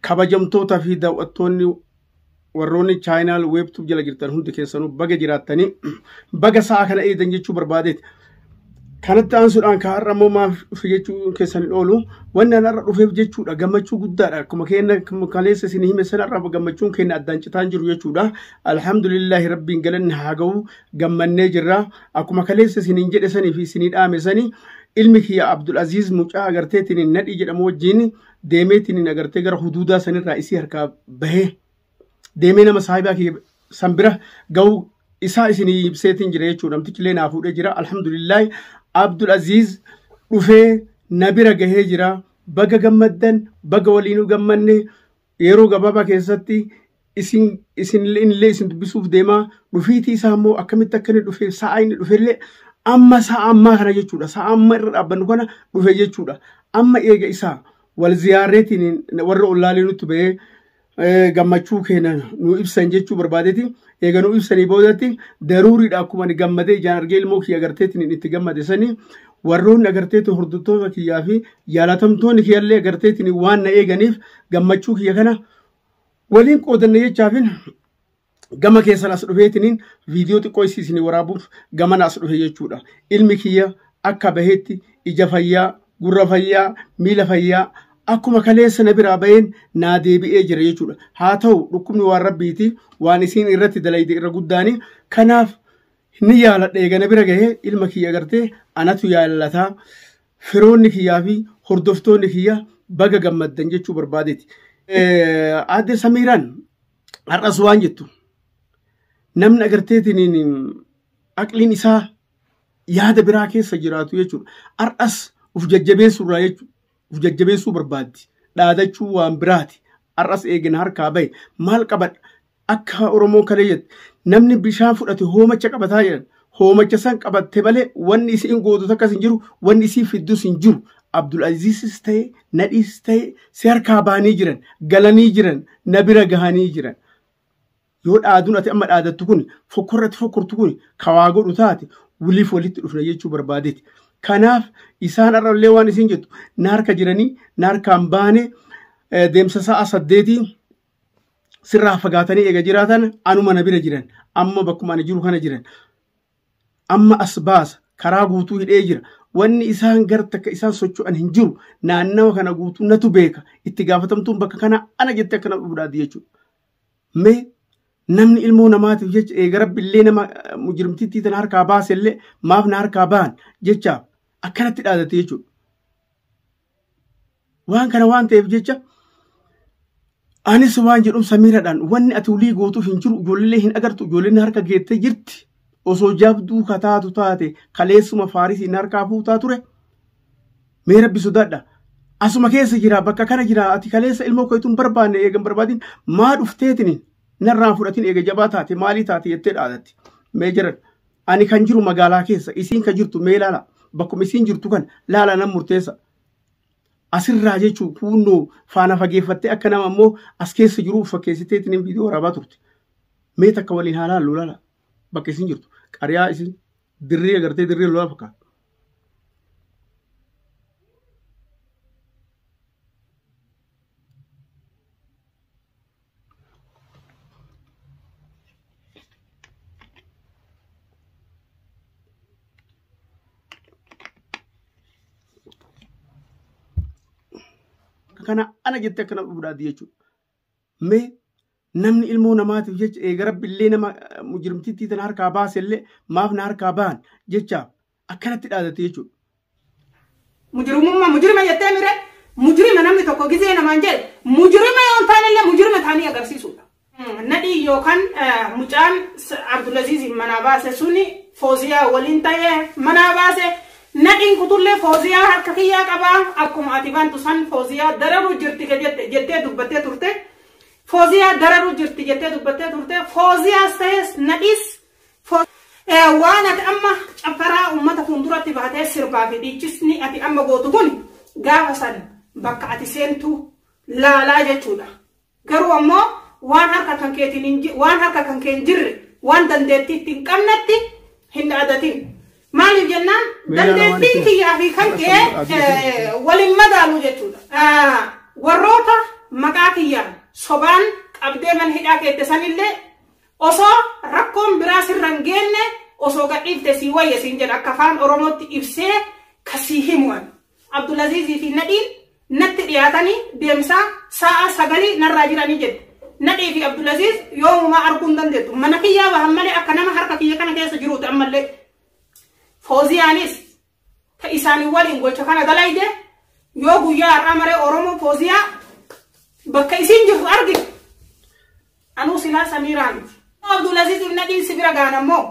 kabajamtoota fi daawwattoonni warroonni chaayinaal weebtuub jala jirtan hundi keessanuu baga jiraattanii baga sa'a kana eedan jechuu barbaadeeti. Kanatti aansuudhaan ka har'a immoo maaf dhufe jechuu keessan hin oolu. Wanni an har'a dhufeef jechuudha gammachuu guddaadha. Akkuma keenya kaleessa isin hime sana irraa gammachuun keenya addaan citaa hin jiru jechuudha. Alhamdulillahi rabbiin galanni haa ga'u gammannee jirra. Akkuma kaleessa isin hin jedhe sanii fi isin dhaame sanii ilmi kiyya Abdul Aziz mucaa agarteetiin nadhii jedhamu wajjin deemeetiin hin agartee gara huduudaa sanirraa isii harkaa bahee deemee nama saahibaa kiyya san bira ga'uu isaa isinii ibseetiin jira jechuudha namtichi illee naa fuudhee jira alhamdulillaahi abdul aziiz dhufee na bira gahee jira baga gammaddan baga waliinuu gammanne yeroo gabaabaa keessatti isin isinillee inillee isin dubbisuuf deemaa dhufiitii isaa immoo akkamitti akka inni dhufe sa'a inni dhufellee amma sa'a ammaa kana jechuudha sa'a amma irra dhaabbannu kana dhufe jechuudha amma eega isaa wal ziyaarreetiin warra ollaalee nutti ba'ee eh, gammachuu keenya nu ibsan jechuu barbaadeeti eega nu ibsanii boodatti daruuriidha akkuma ani gammadee ijaan argee ilmoo kiyya agarteetiin itti gammade sanii warroonni agarteetiin hordoftoota kiyyaa fi jaalatamtoonni kiyyallee agarteetiin waan na eeganiif gammachuu kiyya kana waliin qoodanne jechaafin gama keessan as dhufeetiniin viidiyoo xiqqoo isii isinii waraabuuf gamana as dhufe jechuudha. Ilmi kiyya akka baheetti ija fayyaa, gurra fayyaa, miila fayyaa akkuma kaleessa na biraa baheen naa deebi'ee jira jechuudha. Haa ta'u dhukkubni waan rabbiiti waan isiin irratti dalayde irra guddaani. Kanaaf ni yaaladha eega na bira gahee ilma kiyya gartee anatu yaalataa. Firoonni kiyyaa fi hordoftoonni kiyya baga gammaddan jechuu barbaadeeti. Aadde Samiiraan har'as waan jettu namni agarteetiin aqliin isaa yaada biraa keessa jiraatu jechuudha. Har'as uf jajjabeessuu irraa jechuudha. Uf jajjabeessuu barbaaddi. Dhaadachuu waan biraati. Har'as eegina harkaa bahe. Maal qabadha? Akka Oromoon kalee jette namni bishaan fudhate hoomacha qabataa jedhan hoomacha san qabatte malee wanni isiin gootu takkas hin jiru wanni isiin fiddus hin jiru Abdul Aziizis ta'e nadhiis ta'e si harkaa baanii jiran galanii jiran na bira gahanii jiran yoo dhaaduun ati amma dhaadattu kun fokkorratti fokkortu kun kawaa godhu taate waliif walitti dhufna jechuu barbaadeeti kanaaf isaan har'allee waan isiin jettu na harka jiranii na harkaan baanee deemsa sa'a saddeetii sirraa fagaatanii eega jiraatan anuma na bira jiran amma bakkuma ani jiru kana jiran amma as baasa karaa guutuu hidhee jira wanni isaan gara takka isaan socho'an hin jiru naannawa kana guutuu natu beeka itti gaafatamtuun bakka kanaa ana jettee akkana dhufdaati jechuudha. Mee namni ilmoo namaatiif jecha eega rabbillee nama mujrimtittii tana harkaa baasellee maaf na harkaa ba'an jechaaf akkanatti dhaadate jechuudha. Waan kana waan ta'eef jecha anis waan jedhum samiiradhaan wanni ati ulii gootuuf hin jiru ijoollee hin agartu ijoolleen harka geettee jirti osoo jabduu kataatu taate kaleessuma faarisiin harkaa fuutaa ture mee rabbi sodaadha asuma keessa jira bakka kana jira ati kaleessa ilmoo keetuun barbaanne eegan barbaadin maa dhufteetini narraan fudhatin eega jabaa taate maalii taate jettee dhaadatti mee jiran Ani kan jiru magaalaa keessa isiin kan jirtu mee laala bakkuma isiin jirtu kan laala nan murteessa. Asirraa jechuun kuunnoo faana fageeffattee akka nama immoo as keessa jiru fakkeessiteetiin hin viidiyoo waraabaa turte. Mee takka waliin haa laallu laala bakka isiin jirtu qariyaa isiin dirree agartee dirree lolaa fakkaata. kana ana jette akkana dhudhaati jechuudha. Mee namni ilmoo namaatiif jecha eega rabbi illee nama mujrimtittii tana harkaa baase illee maaf na harkaa bahan jecha akkanatti dhaadatte jechuudha. Mujrimummaa mujrima jettee mire mujrima namni tokko gizee namaan jedhe mujrima yoo hin taanellee mujrima taanii agarsiisuudha. Nadhii yookaan mucaan Abdulaziz manaa baase suni Fooziyaa waliin ta'ee manaa baase nadhiin kutullee Fooziyaa harka kiyyaa qabaa akkuma ati bantu san Fooziyaa dararuu jirti jettee dubbattee turte. Fooziyaa dararuu jirti jettee dubbattee turte. Fooziyaas ta'es nadhiis Waan ati amma caffaraa uummata fuulduratti baatee sirbaa fi dhiichisni ati amma gootu kun gaafa san bakka ati seentu laalaa jechuudha. Garuu ammoo waan harka kan keetiin waan harka kan kee hin jirre waan dandeettii itti hin qabnetti hin dhaadatin. Maaliif jennaan dandeettiin kiyyaa fi kan kee waliin madaalu jechuudha. Warroota maqaa kiyyaan sobaan qabdee mana hidhaa keette sanillee Osoo rakkoon biraa sirra hin geenne osoo gadhiifte sii wayya siin jedha akka afaan Oromootti ibsee ka sii himu ani. Abdulaziizii fi Nadhiin natti dhiyaatanii deemsaa sa'a sagalii narraa jiranii jette. Nadhii fi Abdulaziiz yoomumaa arguu hin dandeettu. Mana kiyyaa bahan malee akka nama harka kiyya kana keessa jiruuti ammallee. Fooziyaanis ta isaanii waliin gocha kana dalayde yoo guyyaa har'aa maree Oromoo Fooziyaa bakka isiin jirtu argite anuu silaa Samiiraa miti. Yoo Abdulaziz ibn Nadhiin si bira gaana immoo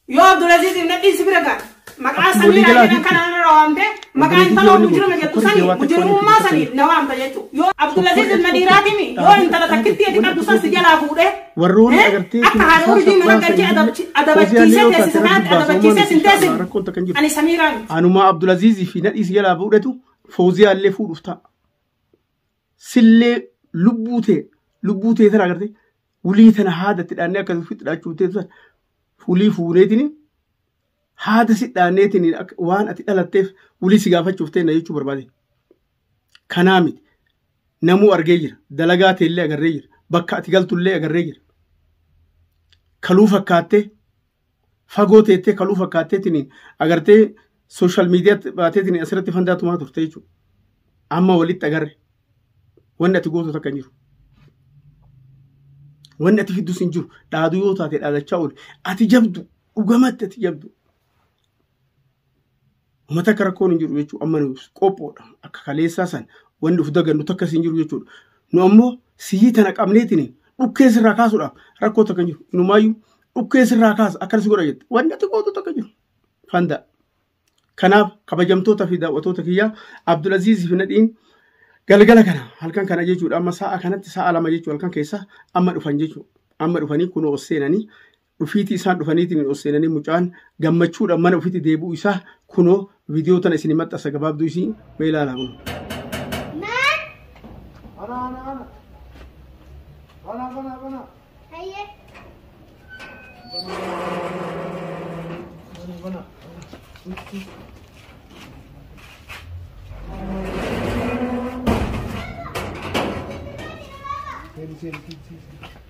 yoo Abdulaziz ibn Nadhiin si bira gaana maqaa Samiiraa jedhan kana irra waamte maqaa intaloo mujirima jettu sani mujirimummaa saniif na waamta jechuudha. Yoo Abdulaziz ibn Nadhiiraatimi yoo intala takkittii ati qabdu san si jalaa fuudhee warroonni agartee akka haadha urjii mana galchee adabachiisee teessisa naatti adabachiisee sin teessin rakkoon takka hin jiru ani samiiraa miti anumaa abdulaziizii fi nadhiis jalaa fuudhetu fooziyaa illee fuudhuuf ta'a sillee lubbuu tee lubbuu tee tana agartee wulii tana haadatti dhaannee akka ofitti dhaachuu tee tana fulii fuuneetini haada si dhaanneetiin waan ati dhalatteef wulii si gaafachuuf teenna jechuu barbaade. Kanaa miti. Namuu argee jira. Dalagaa teellee agarree jira. Bakka ati galtullee agarree jira. Kaluu fakkaattee fagoo teettee kaluu fakkaatteetiin agartee sooshaal miidiyaatti baateetiin asirratti fandaa tumaa turte jechuudha. Amma walitti agarre. Wanni ati gootu takka hin jiru. Wanni ati fiddus hin jiru. Dhaaduu yoo taate dhaadachaa oole. Ati jabdu Dhugamatti ati jabdu. Uummata akka rakkoon hin jiru jechuudha. Amma nuuf qophoodha. Akka kaleessaa san wanni of dagannu takkas hin jiru jechuudha. Nu ammoo sihii tana qabneetiin dhukkee sirraa kaasuudhaaf rakkoo takka hin jiru. Inumaayyuu dhukkee sirraa kaasa akkana si godha jette. Wanni ati gootu takka hin jiru. Fandaa. Kanaaf kabajamtoota fi daawwatoota kiyyaa Abdulaziz fi Nadhiin galgala kana halkan kana jechuudha amma sa'a kanatti sa'a lama jechuudha halkan keessa amma dhufan jechuudha. Amma dhufanii kunoo seenanii dhufiitii isaan dhufaniitiin ol seenanii mucaan gammachuudhaan mana ofiitti deebi'uu isaa kunoo viidiyoo tana isin maxxansa gabaabduu isii mee ilaalaa kun. Ana ana ana. Bana bana bana. Hayye. Bana bana. Seri seri seri.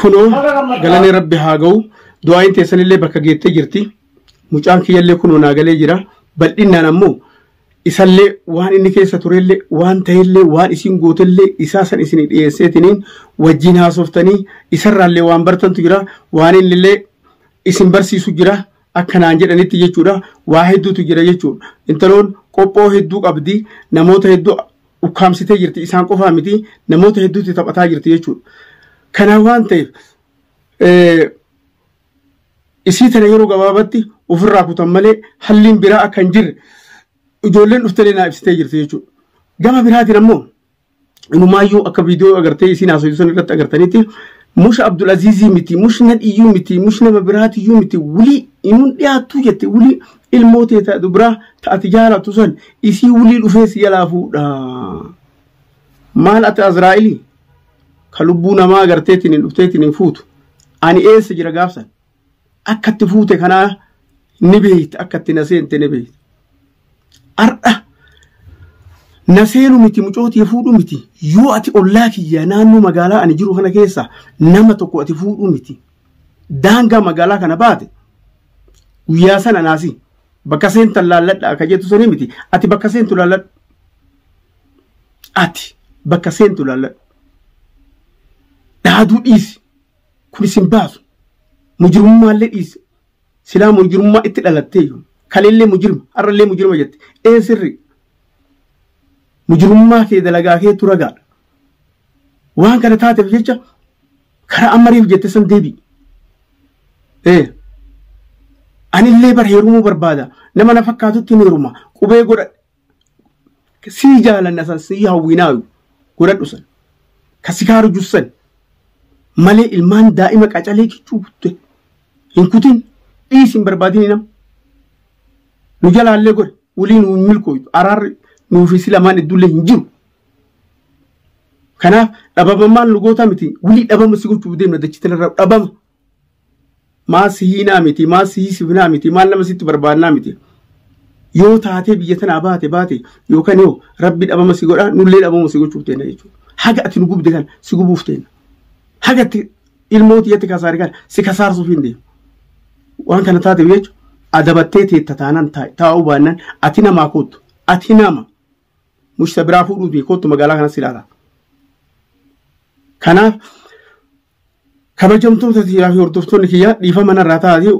Kunoo galanni rabbi haa ga'u du'aayin teessanillee bakka geettee jirti mucaan kiyyallee kunoo naa galee jira bal'inaan ammoo isallee waan inni keessa turellee waan ta'ellee waan isin gootellee isaa san isin dhiyeesseetiniin wajjiin haasoftanii isarraallee waan bartantu jira waan innillee isin barsiisu jira akka naan jedhanitti jechuudha waa hedduutu jira jechuudha intaloon qophoo hedduu qabdi namoota hedduu ukkaamsitee jirti isaan qofaa miti namoota hedduutti taphataa jirti jechuudha kanaa waan ta'eef isii tana yeroo gabaabatti ofirraa kutan malee halliin biraa akka hin jirre ijoolleen dhuftelee naa ibsitee jirti jechuudha. Gama biraatiin ammoo inumaayyuu akka viidiyoo agartee isiin haasoftu sana irratti agartanitti mush Abdul Aziizii miti mush nadhiyyuu miti mush nama biraatiyyuu miti wulii inuun dhiyaattuu jette wulii ilmoo tee ta dubraa ta ati jaalatu san isii wulii dhufee si jalaa fuudha. Maal ati Azraa'ilii? ka lubbuu namaa agarteetiin dhufteetiin hin fuutu ani eessa jira gaafsan akka itti fuute kanaa ni beeyta akka itti na seente ni beeyta har'a na seenu miti mucootii fuudhu miti yoo ati ollaa kiyya naannoo magaalaa ani jiru kana keessa nama tokko ati fuudhu miti daangaa magaalaa kana baate guyyaa sana naasi bakka seentan laalladha akka jettu sanii miti ati bakka seentu laalladha ati bakka seentu laalladhu dhaaduu dhiisi kun isin baasu mujirmummaallee dhiisi silaa mujirmummaa itti dhalatteeyyu kaleellee mujirma har'allee mujirma jette ee sirri mujirummaa kee dalagaa kee turagaadha waan kana taateef jecha karaa ammariif jette san deebi ee anillee bar heerumuu barbaada nama na fakkaatutti hin heeruma qubee godhadhe sii jaalanna san sii hawwinaayu godhadhu san ka si kaaru jussan malee ilmaan daa'ima qacalee kichuu kutte hin kutin dhiis hin barbaadini nam nu jalaallee godhe wulii nu hin milkooytu araarri nuufi si lamaan iddullee hin jiru kanaaf dhabama maal nu gootaa miti wulii dhabama si gochuuf deemna dachitin irra dhabama maal si hiinaa miti maal si hiisifnaa miti maal nama sitti barbaannaa miti yoo taatee biyya tanaa baate baate yookaan yoo rabbi dhabama si godhaa nullee dhabama si gochuuf teena jechuudha haga ati nu gubde kan si gubuuf teena haga ati ilmooti yatti kasaare kan si kasaarsuuf hin deemu waan kana taateef jechuudha adabattee teetta taanaan taa'uu baannaan ati namaa koottu ati nama mushta biraa fuudhuuti koottu magaalaa kanas ilaala kanaaf Kabajamtoota tiyyaa fi hordoftoonni kiyyaa dhiifama narraa ta'aatii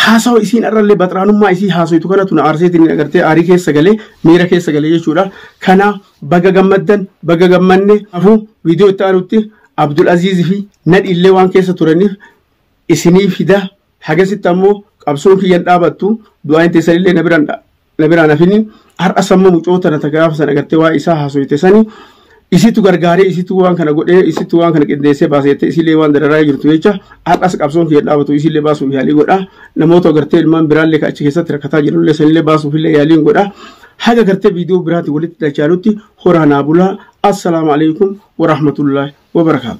haasawa isiin irrallee baxraanummaa isii haasoytu kanatu na aarseetiin agartee aarii keessa galee miira keessa galee jechuudha. Kana baga gammaddan baga gammanne afuu viidiyoo itti aanutti Abdul Aziiz fi Nadhiillee waan keessa turaniif isinii fida. Hagasitti ammoo qabsoon kiyya hin dhaabattu du'aayin teessanillee na biraan na biraan hafini har'a samma mucoota na gaafa sana gartee waa isaa haasoyte sani isitu gargaaree isitu waan kana godhee isitu waan kana qindeessee baaseette isilee waan dararaa jirtu jecha har'as qabsoon kiyya dhaabatu isilee baasuuf yaalii godha namoota gartee ilmaan biraallee ka achi keessatti rakkataa jirullee sanillee baasuuf illee yaaliin godha haga gartee viidiyoo biraatti walitti dachaalutti horaa naa bulaa assalaamu alaikum warahmatullaahi wabarakaatu.